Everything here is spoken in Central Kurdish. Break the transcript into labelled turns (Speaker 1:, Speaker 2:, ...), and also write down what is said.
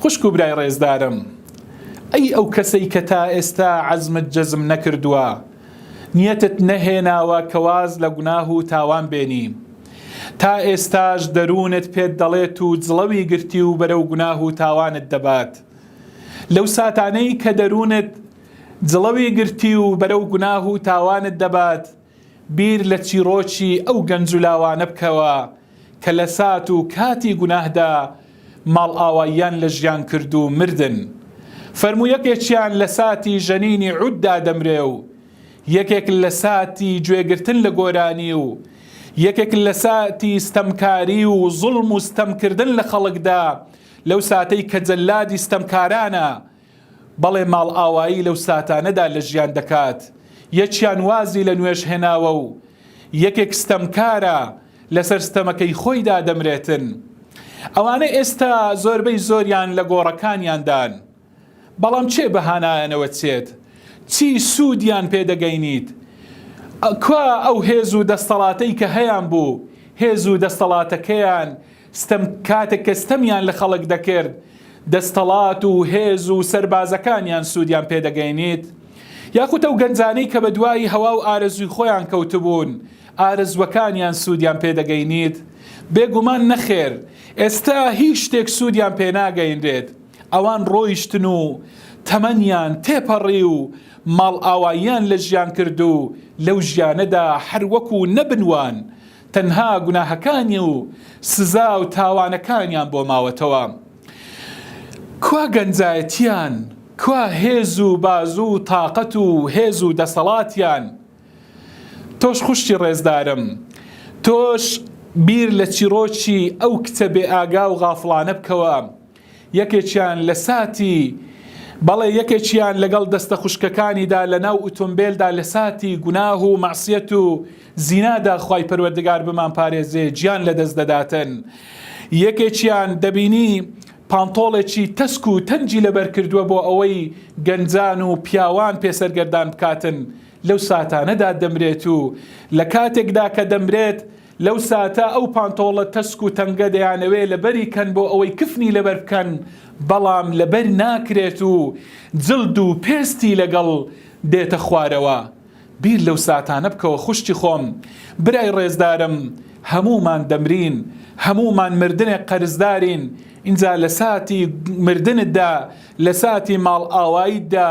Speaker 1: خوشک و برای ڕێزدارم ئەی ئەو کەسەی کە تا ئێستا عەزمت جەزم نەکردووە نیەتت نەهێناوە کە واز لە گوناه و تاوان بێنی تا ئێستاش دەروونت پێت دەڵێت و جڵەوی گرتی و بەرەو گوناه و تاوانت دەبات لەو ساتانەی کە دەروونت جڵەوی گرتی و بەرەو گوناه و تاوانت دەبات بیر لە چیڕۆکی ئەو گەنج و لاوانە بکەوە کە لە سات و کاتی گوناهدا ماڵئاواییان لە ژیان کرد و مردن، فەرموو یەکێکیان لە ساتی ژەنینی عوددا دەمرێ و یەکێک لە ساتی گوێگرتن لە گۆرانی و یەکێک لە ساتی ستەمکاری و زوڵم و ستەمکردن لە خەڵکدا لەو ساتەی کە جەلادی ستەمکارانە بەڵێ ماڵئاوایی لەو ساتانەدا لە ژیان دەکات، یەکیان وازی لە نوێژ هێناوە و یەکێک ستەمکارە لەسەر ستەمەکەی خۆیدا دەمرێتن. ئەوانە ئێستا زۆربەی زۆریان لە گۆڕەکانیاندان، بەڵام کێ بە هانایانەوە چێت؟ چی سوودیان پێ دەگەینیت؟ کوا ئەو هێز و دەستەڵاتەی کە هەیان بوو، هێز و دەستەڵاتەکەیان ستەم، کاتێک کە ستەمیان لە خەڵک دەکرد، دەستەڵات و هێز و سەربازەکانیان سوودیان پێ دەگەینیت؟ یاخود ئەو گەنجانەی کە بە دوای هەوا و ئارەزووی خۆیان کەوتبوون، ئارەزووەکانیان سوودیان پێ دەگەینیت؟ بێ گومان نەخێر، ئێستا هیچ شتێک سوودیان پێ ناگەینرێت. ئەوان ڕۆیشتن و تەمەنیان تێپەڕی و ماڵئاواییان لە ژیان کرد و لەو ژیانەدا هەر وەکوو نەبن وان، تەنها گوناهەکانی و سزا و تاوانەکانیان بۆ ماوەتەوە. کوا گەنجایەتیان؟ کوا هێز و بازو و تاقەت و هێز و دەسەڵاتیان؟ تۆش خوشکی ڕێزدارم، تۆش بیر لە چیڕۆکی ئەو کچە بێ ئاگا و غافڵانە بکەوە، یەکێکیان لە ساتی بەڵێ یەکێکیان لەگەڵ دەستە خوشکەکانیدا لە ناو ئوتۆمبێلدا لە ساتی گوناه و مەعسیەت و زینادا خوای پەروەردگار بمان پارێزێ گیان لە دەست دەداتن یەکێکیان دەبینی پانتۆڵێکی تەسک و تەنجی لەبەر کردووە بۆ ئەوەی گەنجان و پیاوان پێسەرگەردان بکاتن لەو ساتانەدا دەمرێت و لە کاتێکدا کە دەمرێت لەو ساتە ئەو پانتۆڵە تەسک و تەنگە دەیانەوێ لەبەری کەن بۆ ئەوەی کفنی لەبەر بکەن، بەڵام لەبەر ناکرێت و جلد و پێستی لەگەڵ دێتە خوارەوە. بیر لەو ساتانە بکەوە خوشکی خۆم، برای ڕێزدارم، هەموومان دەمرین، هەموومان مردنێک قەرزدارین، ئینجا لە ساتی مردنتدا، لە ساتی ماڵئاواییتدا،